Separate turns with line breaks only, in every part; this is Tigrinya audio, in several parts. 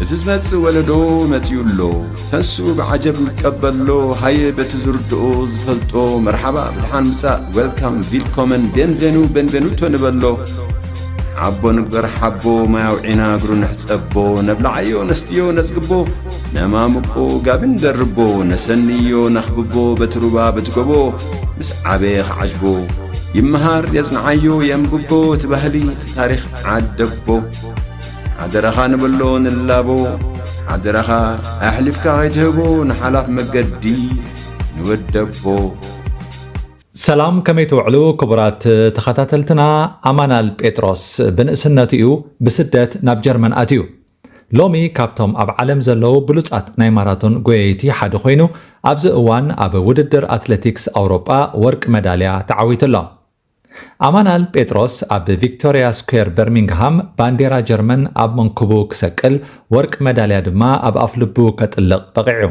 እቲ ዝመጽእ ወለዶ መጺኡ ኣሎ ተንስኡ ብዓጀብ ንቀበሎ ሃየ በቲ ዝርድኦ ዝፈልጦ መርሓባ ብድሓን ምጻእ ዌልካም ቪልኮመን ቤንቬኑ ቤንቬኑቶ ንበሎ ዓቦ ንግበር ሓቦ ማይ ኣውዒና እግሩ ንሕጸቦ ነብላዓዮ ነስትዮ ነጽግቦ ነማምቆ ጋቢ ንደርቦ ነሰንዮ ነኽብቦ በቲ ሩባ በቲ ጎቦ ምስ ዓበየ ክዓጅቦ ይመሃር የጽንዓዮ የንብቦ እቲ ባህሊ ታሪኽ ዓደቦ ሓደራኻ ንበሎ ንላቦ ሓደራኻ ኣሕሊፍካ ከይትህቦ ንሓላፍ መገዲ ንወደቦ
ሰላም ከመይ ትውዕሉ ክቡራት ተኸታተልትና ኣማናል ጴጥሮስ ብንእስነቱ እዩ ብስደት ናብ ጀርመን ኣትዩ ሎሚ ካብቶም ኣብ ዓለም ዘለዉ ብሉፃት ናይ ማራቶን ጎየይቲ ሓደ ኮይኑ ኣብዚ እዋን ኣብ ውድድር ኣትለቲክስ ኣውሮጳ ወርቂ መዳልያ ተዓዊቱ ኣሎ ኣማናል ጴጥሮስ ኣብ ቪክቶርያ ስኩዌር በርሚንግሃም ባንዴራ ጀርመን ኣብ መንኩቡ ክሰቅል ወርቂ መዳልያ ድማ ኣብ ኣፍልቡ ከጥልቕ በቒዑ።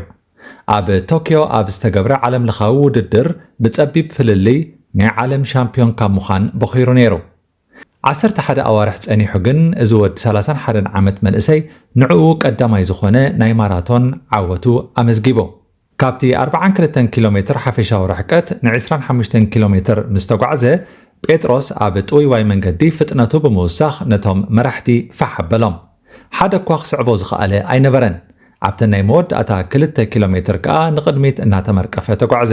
ኣብ ቶክዮ ኣብ ዝተገብረ ዓለምለኻዊ ውድድር ብጸቢብ ፍልልይ ናይ ዓለም ሻምፕዮን ካብ ምዃን ቦኺሩ ነይሩ። ዓሰርተ ሓደ ኣዋርሕ ጸኒሑ ግን እዚ ወዲ ሰላሳን ሓደን ዓመት መንእሰይ ንዕኡ ቀዳማይ ዝኾነ ናይ ማራቶን ዓወቱ ኣመዝጊቡ። ካብቲ ኣርብዓን ክልተን ኪሎ ሜትር ሓፈሻዊ ርሕቀት ንዕስራን ሓሙሽተን ኪሎ ሜትር ምስ ተጓዕዘ፣ ጴጥሮስ ኣብ ጥውይዋይ መንገዲ ፍጥነቱ ብምውሳኽ ነቶም መራሕቲ ፋሕ ኣበሎም። ሓደ እኳ ክስዕቦ ዝኸኣለ ኣይነበረን። ኣብተን ናይ መወዳእታ ክልተ ኪሎ ሜትር ከኣ ንቕድሚት እናተመርቀፈ ተጓዕዘ።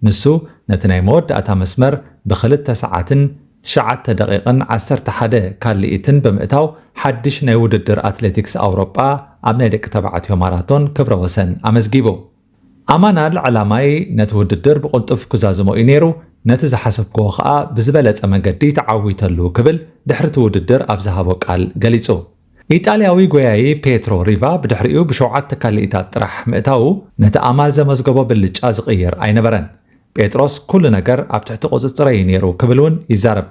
ንሱ ነቲ ናይ መወዳእታ መስመር ብክልተ ሰዓትን ትሽዓተ ደቒቕን ዓሰርተ ሓደ ካልኢትን ብምእታው ሓድሽ ናይ ውድድር ኣትሌቲክስ ኣውሮጳ ኣብ ናይ ደቂ ተባዕትዮ ማራቶን ክብረ ወሰን ኣመዝጊቡ። ኣማናል ዕላማይ ነቲ ውድድር ብቕልጡፍ ክዛዝሞ እዩ ነይሩ፣ ነቲ ዝሓሰብክዎ ከኣ ብዝበለጸ መገዲ ተዓዊተሉ ክብል ድሕሪ'ቲ ውድድር ኣብ ዝሃቦ ቃል ገሊጹ። ኢጣልያዊ ጎያዪ ፔትሮ ሪቫ ብድሕሪኡ ብሸውዓተ ካልኢታት ጥራሕ ምእታዉ ነቲ ኣማል ዘመዝገቦ ብልጫ ዝቕይር ኣይነበረን። ጴጥሮስ ኩሉ ነገር ኣብ ትሕቲ ቁጽጽረይ'ዩ ነይሩ ክብል እውን ይዛረብ።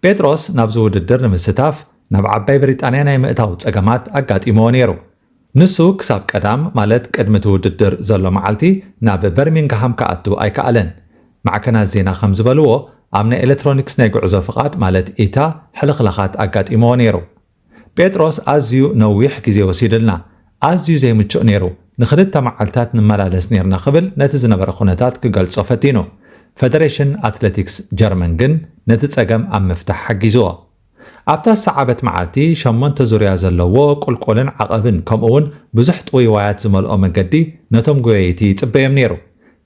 ጴጥሮስ ናብዚ ውድድር ንምስታፍ ናብ ዓባይ ብሪጣንያ ናይ ምእታው ጸገማት ኣጋጢምዎ ነይሩ። ንሱ ክሳብ ቀዳም ማለት ቅድሚ እቲ ውድድር ዘሎ መዓልቲ ናብ በርሚንግሃም ክኣቱ ኣይከኣለን። ማዕከናት ዜና ከም ዝበልዎ ኣብ ናይ ኤለትሮኒክስ ናይ ጉዕዞ ፍቓድ ማለት ኢታ ሕልኽላኻት ኣጋጢምዎ ነይሩ። ጴጥሮስ ኣዝዩ ነዊሕ ግዜ ወሲዱልና፣ ኣዝዩ ዘይምቹእ ነይሩ፣ ንኽልተ መዓልታት ንመላለስ ኔርና ክብል ነቲ ዝነበረ ኵነታት ክገልጾ ፈቲኑ። ፈደረሽን ኣትለቲክስ ጀርመን ግን ነቲ ጸገም ኣብ ምፍታሕ ሓጊዝዎ። ኣብታ ዝሰዓበት መዓልቲ፣ ሸሞንተ ዙርያ ዘለዎ ቍልቍልን ዓቐብን ከምኡውን ብዙሕ ጥውይዋያት ዝመልኦ መገዲ ነቶም ጐየይቲ ይጽበዮም ነይሩ።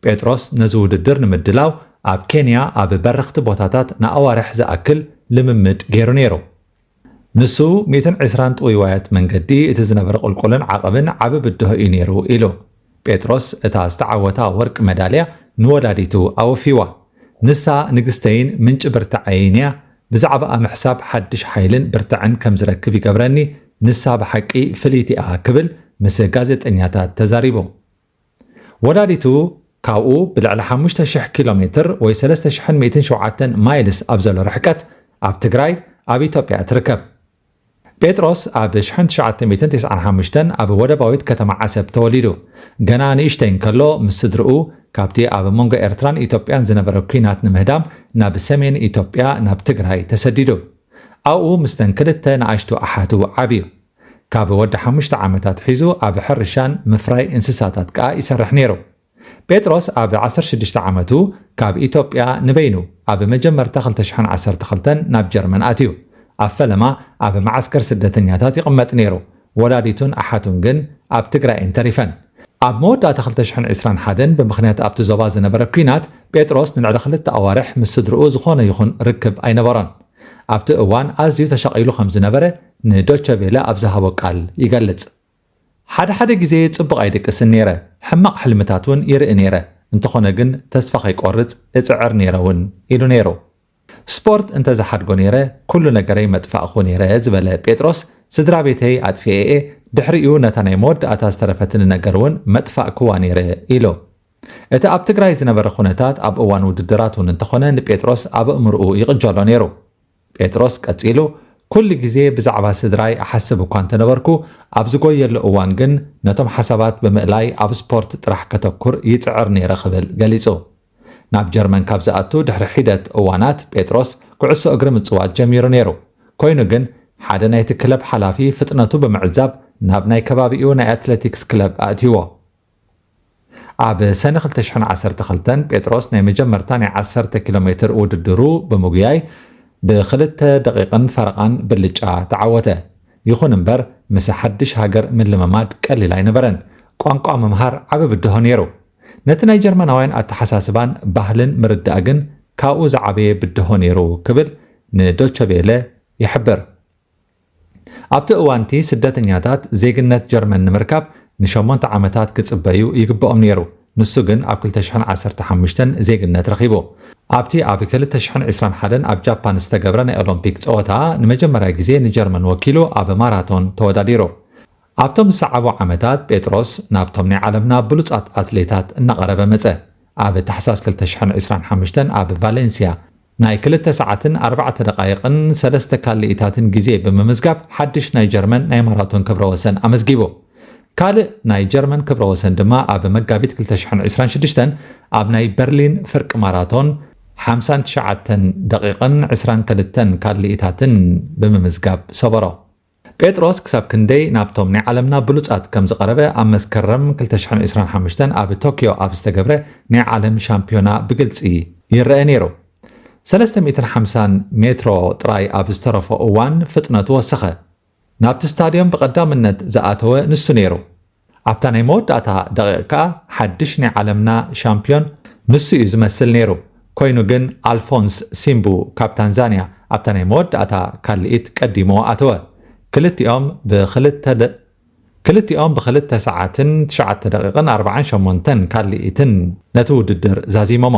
ጴጥሮስ ነዚ ውድድር ንምድላው ኣብ ኬንያ ኣብ በረኽቲ ቦታታት ንኣዋርሕ ዝኣክል ልምምድ ገይሩ ነይሩ። ንሱ፣ ሚእትን ዕስራን ጥውይዋያት መንገዲ፣ እቲ ዝነበረ ቁልቁልን ዓቐብን ዓቢ ብድሆ እዩ ነይሩ ኢሉ። ጴጥሮስ እታ ዝተዓወታ ወርቂ መዳልያ ንወላዲቱ ኣወፍይዋ። ንሳ፣ ንግስተይን ምንጪ ብርታዐይን እያ፣ ብዛዕባኣ ምሕሳብ ሓድሽ ሓይልን ብርታዐን ከም ዝረክብ ይገብረኒ፣ ንሳ ብሓቂ ፍልይቲ እያ ክብል ምስ ጋዜጠኛታት ተዛሪቡ። ወላዲቱ ካብኡ ብልዕሊ ሓሙሽተ ሽሕ ኪሎ ሜትር ወይ ሰለስተ ሽሕን ሚእትን ሸውዓተን ማይልስ ኣብ ዘሎ ርሕቀት ኣብ ትግራይ ኣብ ኢትዮጵያ እትርከብ ጴጥሮስ ኣብ ሽሕን ትሽዓተ ሚእትን ቴስዓን ሓሙሽተን ኣብ ወደባዊት ከተማ ዓሰብ ተወሊዱ። ገና ንእሽተይ እንከሎ ምስ ስድርኡ ካብቲ ኣብ መንጎ ኤርትራን ኢትዮጵያን ዝነበረ ኲናት ንምህዳም ናብ ሰሜን ኢትዮጵያ ናብ ትግራይ ተሰዲዱ። ኣብኡ ምስተን ክልተ ንኣሽቱ ኣሓቱ ዓብዩ። ካብ ወዲ ሓሙሽተ ዓመት ኣትሒዙ ኣብ ሕርሻን ምፍራይ እንስሳታት ከኣ ይሰርሕ ነይሩ። ጴጥሮስ ኣብ ዓሰርተ ሽዱሽተ ዓመቱ ካብ ኢትዮጵያ ንበይኑ ኣብ መጀመርታ ክልተ ሽሕን ዓሰርተ ክልተን ናብ ጀርመን ኣትዩ። ኣብ ፈለማ ኣብ መዓስከር ስደተኛታት ይቕመጥ ነይሩ፣ ወላዲቱን ኣሓቱን ግን ኣብ ትግራይ እየን ተሪፈን። ኣብ መወዳእታ ክልተ ሽሕን ዕስራን ሓደን ብምኽንያት ኣብቲ ዞባ ዝነበረ ኲናት ጴጥሮስ ንልዕሊ ክልተ ኣዋርሕ ምስ ስድርኡ ዝኾነ ይኹን ርክብ ኣይነበሮን። ኣብቲ እዋን ኣዝዩ ተሻቒሉ ከም ዝነበረ ንዶቸ ቬለ ኣብ ዝሃቦ ቃል ይገልጽ። ሓደ ሓደ ግዜ ጽቡቕ ኣይድቅስን ነይረ፣ ሕማቕ ሕልምታት እውን ይርኢ ነይረ፣ እንተኾነ ግን ተስፋ ከይቆርጽ እጽዕር ነይረ እውን ኢሉ ነይሩ። ስፖርት እንተ ዝሓድጎ ነይረ ኩሉ ነገረይ መጥፋእኩ ነይረ ዝበለ ጴጥሮስ፣ ስድራ ቤተይ ኣጥፊኤ'የ፣ ድሕሪኡ ነታ ናይ መወዳእታ ዝተረፈትኒ ነገር እውን መጥፋእክዋ ነይረ ኢሉ። እቲ ኣብ ትግራይ ዝነበረ ኩነታት ኣብ እዋን ውድድራት እውን እንተኾነ ንጴጥሮስ ኣብ ኣእምሮኡ ይቕጀሎ ነይሩ። ጴጥሮስ ቀጺሉ፣ ኵሉ ግዜ ብዛዕባ ስድራይ እሓስብ እኳ እንተ ነበርኩ፣ ኣብ ዝጐየሉ እዋን ግን ነቶም ሓሳባት ብምእላይ ኣብ ስፖርት ጥራሕ ከተኵር ይጽዕር ነይረ ክብል ገሊጹ። ናብ ጀርመን ካብ ዝኣቱ ድሕሪ ሒደት እዋናት ጴጥሮስ ኵዕሶ እግሪ ምጽዋት ጀሚሩ ነይሩ። ኰይኑ ግን፣ ሓደ ናይቲ ክለብ ሓላፊ ፍጥነቱ ብምዕዛብ ናብ ናይ ከባቢኡ ናይ ኣትለቲክስ ክለብ ኣእትይዎ። ኣብ ሰነ ክልተ ሽሕን ዓሰርተ ክልተን ጴጥሮስ ናይ መጀመርታ ናይ ዓሰርተ ኪሎ ሜትር ውድድሩ ብምጉያይ ብክልተ ደቒቕን ፈረቓን ብልጫ ተዓወተ። ይኹን እምበር ምስ ሓድሽ ሃገር ምልምማድ ቀሊል ኣይነበረን። ቋንቋ ምምሃር ዓቢ ብድሆ ነይሩ። ነቲ ናይ ጀርመናውያን ኣተሓሳስባን ባህልን ምርዳእ ግን ካብኡ ዝዓበየ ብድሆ ነይሩ ክብል ንዶቸ ቬለ ይሕብር። ኣብቲ እዋን'ቲ ስደተኛታት ዜግነት ጀርመን ንምርካብ ንሸሞንተ ዓመታት ክጽበዩ ይግበኦም ነይሩ፣ ንሱ ግን ኣብ ክልተ ሽሕን ዓሰርተ ሓሙሽተን ዜግነት ረኺቡ። ኣብቲ ኣብ ክልተ ሽሕን ዕስራን ሓደን ኣብ ጃፓን ዝተገብረ ናይ ኦሎምፒክ ጸወታ ንመጀመርያ ግዜ ንጀርመን ወኪሉ ኣብ ማራቶን ተወዳዲሩ። ኣብቶም ዝሰዓቡ ዓመታት ጴጥሮስ ናብቶም ናይ ዓለምና ብሉጻት ኣትሌታት እናቐረበ መጸ። ኣብ ታሕሳስ ክልተ ሽሕን ዕስራን ሓሙሽተን ኣብ ቫለንስያ ናይ ክልተ ሰዓትን ኣርባዕተ ደቓይቕን ሰለስተ ካሊኢታትን ግዜ ብምምዝጋብ ሓድሽ ናይ ጀርመን ናይ ማራቶን ክብረ ወሰን ኣመዝጊቡ። ካልእ ናይ ጀርመን ክብረ ወሰን ድማ ኣብ መጋቢት ክልተ ሽሕን ዕስራን ሽዱሽተን ኣብ ናይ በርሊን ፍርቂ ማራቶን ሓምሳን ትሽዓተን ደቒቕን ዕስራን ክልተን ካሊኢታትን ብምምዝጋብ ሰበሮ። ጴጥሮስ ክሳብ ክንደይ ናብቶም ናይ ዓለምና ብሉጻት ከም ዝቐረበ ኣብ መስከረም ክልተ ሽሕን ዕስራን ሓሙሽተን ኣብ ቶክዮ ኣብ ዝተገብረ ናይ ዓለም ሻምፕዮና ብግልጺ ይረኣ ነይሩ። ሰለስተ ሚእትን ሓምሳን ሜትሮ ጥራይ ኣብ ዝተረፎ እዋን ፍጥነቱ ወሰኸ። ናብቲ ስታድዮም ብቐዳምነት ዝኣተወ ንሱ ነይሩ። ኣብታ ናይ መወዳእታ ደቒቕ ከኣ ሓድሽ ናይ ዓለምና ሻምፕዮን ንሱ እዩ ዝመስል ነይሩ። ኮይኑ ግን ኣልፎንስ ሲምቡ ካብ ታንዛንያ ኣብታ ናይ መወዳእታ ካልኢት ቀዲሙ ኣተወ። ክልቲኦም ብክልተ ክልቲኦም ብክልተ ሰዓትን ትሽዓተ ደቒቕን ኣርብዓን ሸሞንተን ካልኢትን ነቲ ውድድር ዛዚሞሞ።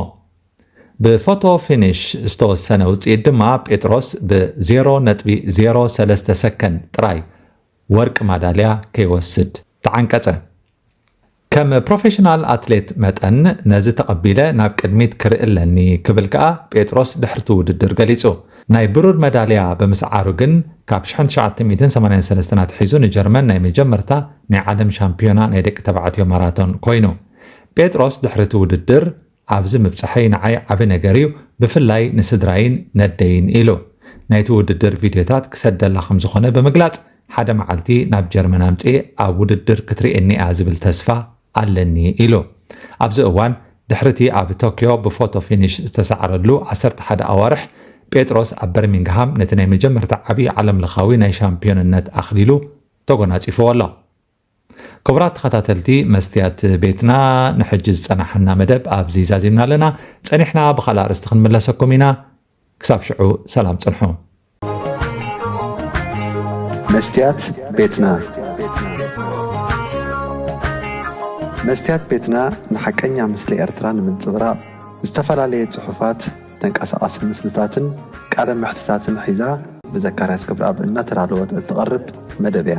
ብፎቶ ፊኒሽ ዝተወሰነ ውጽኢት ድማ ጴጥሮስ ብ ዜሮ ነጥቢ ዜሮ ሰለስተ ሰከንድ ጥራይ ወርቂ ማዳልያ ከይወስድ ተዓንቀጸ። ከም ፕሮፌሽናል ኣትሌት መጠን ነዚ ተቐቢለ ናብ ቅድሚት ክርኢ ኣለኒ ክብል ከኣ ጴጥሮስ ድሕሪ'ቲ ውድድር ገሊጹ። ናይ ብሩር መዳልያ ብምስዓሩ ግን ካብ ሽሕን ትሽዓተ ሚእትን ሰማንያን ሰለስተን ኣትሒዙ ንጀርመን ናይ መጀመርታ ናይ ዓለም ሻምፕዮና ናይ ደቂ ተባዕትዮ ማራቶን ኮይኑ። ጴጥሮስ ድሕሪ'ቲ ውድድር። ኣብዚ ምብጻሐይ ንዓይ ዓቢ ነገር እዩ፣ ብፍላይ ንስድራይን ነደይን ኢሉ። ናይቲ ውድድር ቪድዮታት ክሰደላ ከም ዝዀነ ብምግላጽ፣ ሓደ መዓልቲ ናብ ጀርመን ኣምጺኤ ኣብ ውድድር ክትርእየኒ'ያ ዝብል ተስፋ ኣለኒ ኢሉ። ኣብዚ እዋን፣ ድሕሪ'ቲ ኣብ ቶክዮ ብፎቶ ፊኒሽ ዝተሳዕረሉ ዓሰርተ ሓደ ኣዋርሕ፣ ጴጥሮስ ኣብ በርሚንግሃም ነቲ ናይ መጀመርታ ዓቢ ዓለምለኻዊ ናይ ሻምፕዮንነት ኣኽሊሉ ተጐናጺፍዎ ኣሎ። ክቡራት ተኸታተልቲ መስትያት ቤትና ንሕጂ ዝጸናሓና መደብ ኣብዚ ዛዚምና ኣለና። ጸኒሕና ብኻልእ ኣርእስቲ ክንምለሰኩም ኢና። ክሳብ ሽዑ ሰላም ጽንሑ። መስትያት
ቤትና መስትያት ቤትና ንሓቀኛ ምስሊ ኤርትራ ንምንጽብራቕ ዝተፈላለየ ጽሑፋት፣ ተንቀሳቓሲ ምስልታትን ቃለ መሕትታትን ሒዛ ብዘካርያስ ገብረኣብ እናተዳለወት እትቐርብ መደብ እያ።